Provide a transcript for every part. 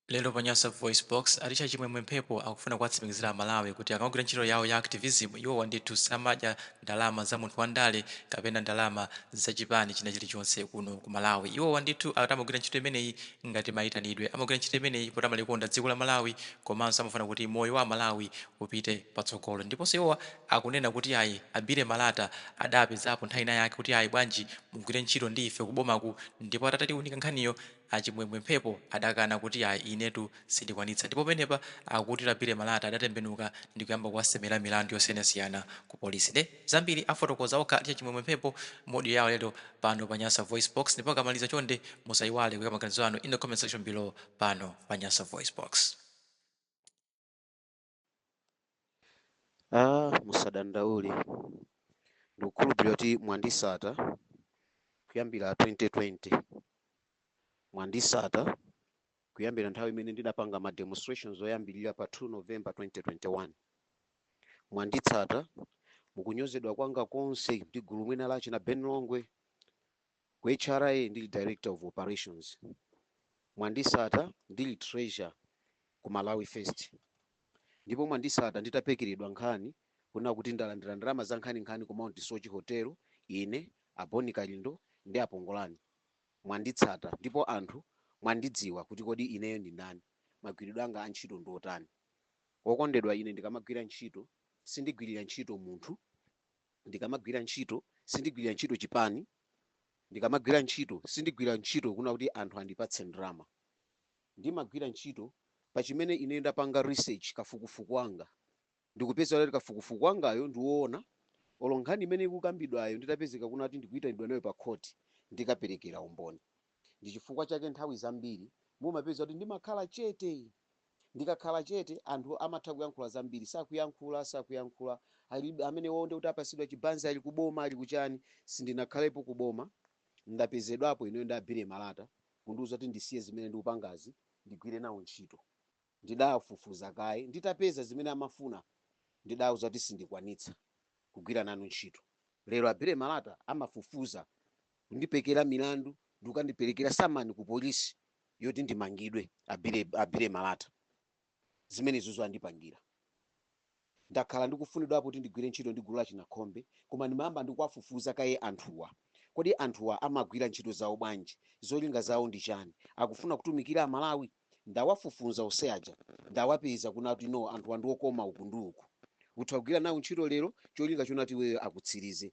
Lero pa Nyasa VoiceBox, a Ticha Chimwemwe Mphepo akufuna kuwatsimikizira Amalawi kuti akamagwira ntchito yawo ya activism, iwowa ndithu samadya ndalama za munthu wandale kapena ndalama za chipani china chilichonse kuno ku Malawi. Iwowa ndithu akuti amagwira ntchito imeneyi ngati mayitanidwe, amagwira ntchito imeneyi poti amalikonda dziko la Malawi komanso amafuna kuti moyo wa Amalawi upite patsogolo. Ndiponso iwowa akunena kuti ayi, a Billy Malata adapezapo nthawi inayake kuti ayi, bwanji mugwire ntchito ndi ife kubomaku ndipo atatatiunika nkhaniyo, A Chimwemwe Mphepo adakana kuti ayi inetu sindikwanitsa ndipo penepa akuti a Billy Malata adatembenuka ndikuyamba kuwasemera milandu yosiyanasiyana ku polisi nde zambiri afotokoza okha a Ticha Chimwemwe Mphepo mu audio yawo yalero pano pa Nyasa VoiceBox ndipo akamaliza chonde musayiwale kuyika maganizo anu in the comment section below pano pa Nyasa VoiceBox. Ah, musadandaule ndikukhulupirira kuti mwandisata kuyambira 2020 mwandisata kuyambira nthawi imene ndidapanga ma demonstrations oyambirira pa 2 november 2021 mwanditsata mukunyozedwa kwanga konse ndi gulu mwina la achina Ben Longwe Ku HRA ndili Director of Operations, mwandisata ndili Treasurer ku Malawi First ndipo mwandisata nditapekeredwa nkhani kunena kuti ndalandira ndalama za nkhaninkhani ku Mount Soche Hotel ine, a Bon Kalindo ndi a Pongolani. Mwanditsata ndipo anthu mwandidziwa kuti kodi ineyo ndi ndani, magwiridwe anga a ntchito ndi otani. Wokondedwa, ine ndikamagwira ntchito sindigwirira ntchito munthu. Ndikamagwira ntchito, sindigwirira ntchito chipani. Ndikamagwira ntchito, sindigwira ntchito kuna kuti anthu andipatse ndalama. Ndimagwira ntchito pa chimene ineyo ndapanga research, kafukufuku wanga, ndikupeza kuti kafukufuku wangayo ndi woona, olo nkhani imene ikukambidwayo nditapezeka kuna kuti ndikuitanidwa nayo pa khoti, ndikaperekera umboni. Ndi chifukwa chake nthawi zambiri mumapeza kuti ndimakhala chete. Ndikakhala chete, anthu amatha kuyankhula zambiri. Sakuyankhula, sakuyankhula. Amenewo ndiye kuti apasidwa chibanzi ali ku boma ali kuchani. Sindinakhalepo ku boma. Ndapezedwapo ineyo ndi a Billy Malata kundiuza kuti ndisiye zimene ndikupangazi ndigwire nawo ntchito. Ndidafufuza kaye, nditapeza zimene amafuna ndidawauza kuti sindikwanitsa kugwira nanu ntchito. Lero a Billy Malata amafufuza, kundipekera milandu ndi kukandiperekera samani kupolisi yoti ndimangidwe. A Billy Malata zimenezozo andipangira. Ndakhala ndikufunidwapo kuti ndigwire ntchito ndi gulu la Chinakhombe koma ndimayamba ndi kuwafufuza kaye anthuwa. Kodi anthuwa amagwira ntchito zawo bwanji? Zolinga zawo ndi chani? Akufuna kutumikira a Malawi? Ndawafufuza onse aja, ndawapeza kunena kuti no anthuwa ndi okoma uku ndi uku. Utha kugwira nawo ntchito lero cholinga chonena kuti iweyo akutsirize.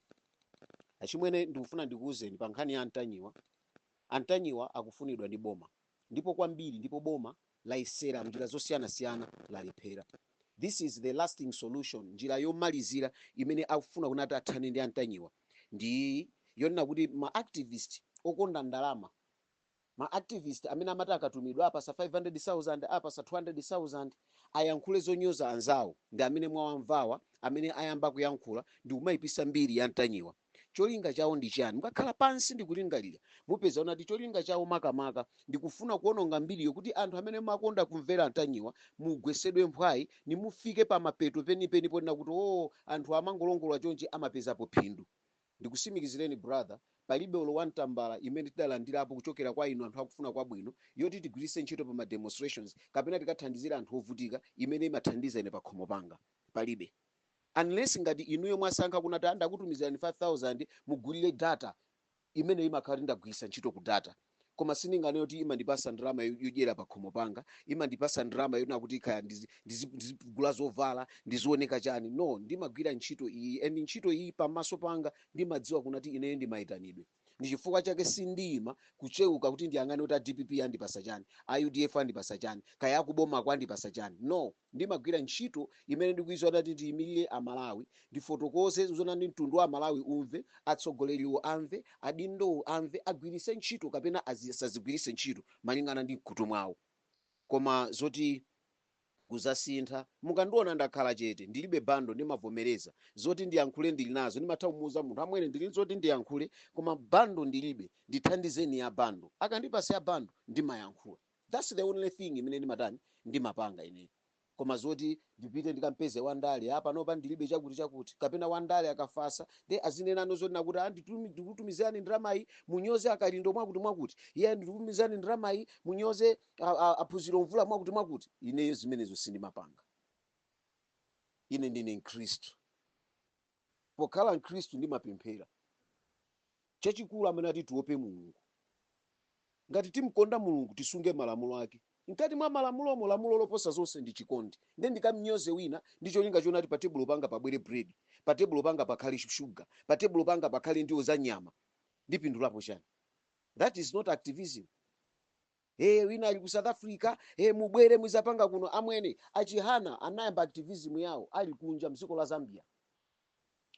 Achimwene ndikufuna ndikuuzeni pa nkhani ya a Ntanyiwa. A Ntanyiwa akufunidwa ndi boma ndipo kwambiri ndipo boma layesera m'njira zosiyanasiyana lalephera. This is the lasting solution, njira yomalizira imene akufuna kunena kuti athane ndi antanyiwa ndi yonena kuti ma activist okonda ndalama ma activist amene amati akatumidwa apasa 500,000 apasa 200,000 ayankhule zonyoza anzawo ndi amene mwawamvawa amene ayamba kuyankhula ndikumayipisa mbiri ya a Ntanyiwa. Cholinga chawo ndi chiyani? Mukakhala pansi ndi kulingalira, mupeza zonena kuti cholinga chawo makamaka ndi kufuna kuononga mbiriyo kuti anthu amene mumakonda kumvera antanyiwa mugwetsedwe mphwayi nimufike pamapeto penipeni ponena kuti oo anthu amangolongolola chonchi amapezapo phindu. Ndikusimikizireni brother palibe olo one tambala imene tidalandirapo kuchokera kwa inu anthu akufuna kwabwino yoti tigwiritse ntchito pa ma demonstrations kapena tikathandizire anthu ovutika imene imathandiza ine pakhomo panga. Palibe. unless ngati inuyo mwasankha kunati ndakutumizirani 5000 mugulire data imeneyo imakhala kuti ndagwiritsa ntchito ku data koma sindinganene kuti imandipasa ndalama yodyera pakhomo panga imandipasa ndalama yonena kuti kaya ndizi- ndizi- ndizigula zovala ndizioneka chani no ndimagwira ntchito iyi and ntchito iyi pamaso panga ndimadziwa kunati ineyo ndi maitanidwe ndi chifukwa chake sindiima kucheuka kuti ndiyang'ane kuti a dpp andipasa chani, a udf andipasa chani, kaya akubomako andipasa chani no, ndimagwira ntchito imene ndikuiziwa kunati ndiimilire a Malawi, ndifotokoze zoona ndi mtundu wa amalawi umve, atsogoleriwo amve, adindowo amve, agwiritse ntchito kapena asazigwiritse ntchito malingana ndi mkhutu mwawo koma zoti. kuzasintha mukandiona ndakhala chete ndilibe bundle ndimavomereza zoti ndiyankhule ndili nazo ndimatha kumuuza munthu amwene ndili ndi zoti ndiyankhule koma bundle ndilibe ndithandizeni ya bundle akandipasa ya bundle ndimayankhula thats the only thing imene ndimatani ndimapanga ineyo koma zoti ndipite ndikampeze wandale a panopa ndilibe chakuti chakuti kapena wandale akafasa nde azinenano zonena kuti a nditumi- ndikutumizirani ndalamayi munyoze a Kalindo mwakuti mwakuti iye ndikutumizirani ndalamayi munyoze a- a- a Phunziro Mvula mwakuti mwakuti ineyo zimenezo sindimapanga ine ndine mkhristu pokhala mkhristu ndimapemphera chachikulu amene ati tiope mulungu ngati timkonda mulungu tisunge malamulo ake mkati mwa malamulomo lamulo loposa zonse ndi chikondi nde ndikamnyoze wina ndi cholinga chonati pa tebulo panga pabwere bread pa tebulo panga pakhale sugar pa tebulo panga pakhale ndiwo za nyama ndipindulapo chani that is not activism ee wina ali ku south africa ee mubwere muzapanga kuno amwene achihana anayamba activism yawo ali kunja mdziko la zambia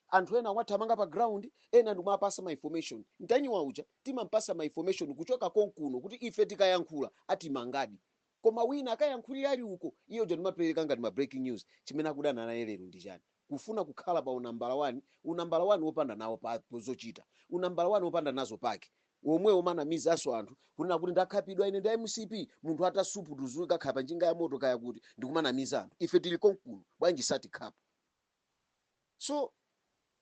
anthu ena wathamanga pa ground ena ndimawapasa ma information ntanyiwa uja timampasa ma information kuchoka konkuno kuti ife tikayankhula atimanga koma wina akayankhulira ali uko iye uja ndimapereka ngati ma breaking news chimene akudana naye lero ndi chani kufuna kukhala pa unambala wani, unambala wani wopanda nawo pa zochita, unambala wani wopanda nazo pake omwe amanamizanso anthu kunena kuti ndakhapidwa ine ndi a mcp, munthu atasupuka atakhala pa njinga ya moto kaya kuti ndikumanamiza anthu ife tili konkuno bwanji satikhapa? So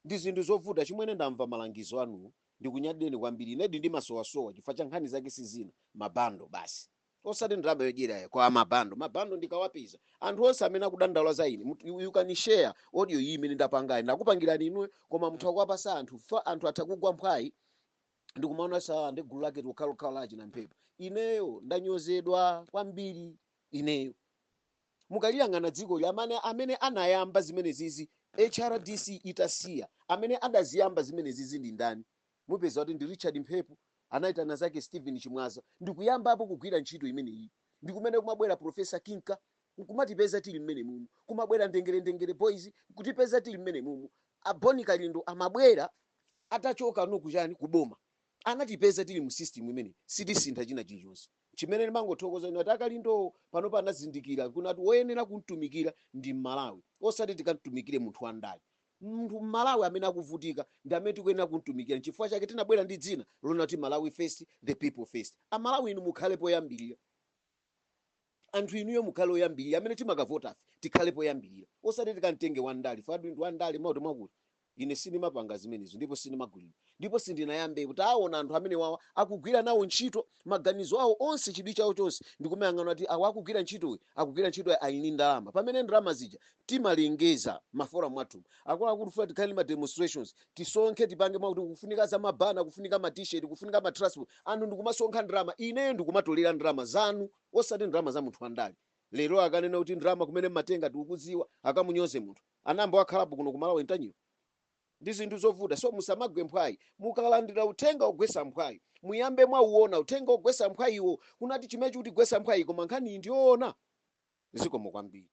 ndi zinthu zovuta chimwene ndamva malangizo anuwo ndikunyadileni kwambiri inedi ndimasowasowa chifukwa cha nkhani zake sizina ma bundle basi. osati ndalama yodyera koma ma bundle ma bundle ndikawapeza anthu onse amene akudandaula za ine mut- you you can share audio iyi imene ndapangayi ndakupangirani inuyo koma mutha kuwapasa anthu anthu atha kugwa mphwayi ndikumaona sa ndi gulu lake lokhalokhalo la achina mphepo ineyo ndanyozedwa kwambiri ineyo mukaliyang'ana dziko amene anayamba zimenezizi hrdc itasiya amene adaziyamba zimenezizi ndi ndani Mupeza kuti ndi Richard Mphepo anaitana zake Steven Chimwaza ndikuyambapo kugwira ntchito imeneyi ndikumene kumabwera Professor Kinka nkumatipeza tili mmenemumu, kumabwera Ndengerendengere Boys nkutipeza tili mmenemumu, a Bon Kalindo amabwera atachoka no kuchani, ku boma, anatipeza tili mu system imeneyi, sitisintha china chilichonse. Chimene ndimangothokoza nchakuti a Kalindowo panopa anazindikira kunati woyenera kumtumikira ndi Mmalawi osati tikamtumikire munthu wa ndale. Munthu mmalawi amene akuvutika ndi amene tikuyenera kumtumikira nchifukwa chake tinabwera ndi dzina lonati Malawi first the people first. Amalawi inu mukhale poyambilira. Anthu inuyo mukhale oyambilira amene timakavotafe tikhale poyambilira osati tikamtenge wandale ife a dindo andale mwakuti mwakuti. Ine sindimapanga zimenezo ndipo sindimagulidwa. Ndipo sindinayambepo taawona anthu amenewawa akugwira nawo ntchito, maganizo awo onse, chidwi chawo chonse ndi kumayang'ana kuti awa akugwira ntchitoyi, akugwira ntchitoyi ali ndi ndalama, pamene ndalama zija timalengeza m'maforum athumu, akuluakulu tikufuna tikhale ndi ma demonstrations, tisonkhe tipange mwakuti kukufunika ma banner, kukufunika ma t-shirt, kukufunika ma transport, anthu ndikumasonkha ndalama, ineyo ndikumatolera ndalama zanu osati ndalama za munthu wandale. Lero akanena kuti ndalama kumene mmatenga tikukudziwa, akamunyoze munthu. Anayamba wakhalapo kuno ku Malawi Ntanyiwa? ndi zinthu zovuta so musamagwe mphwayi mukalandira uthenga ogwesa mphwayi muyambe mwauona uthenga ogwesa mphwayiwo kunati chimenechi chikutigwesa mphwayi koma nkhaniyi ndiyoona? zikomo kwambiri.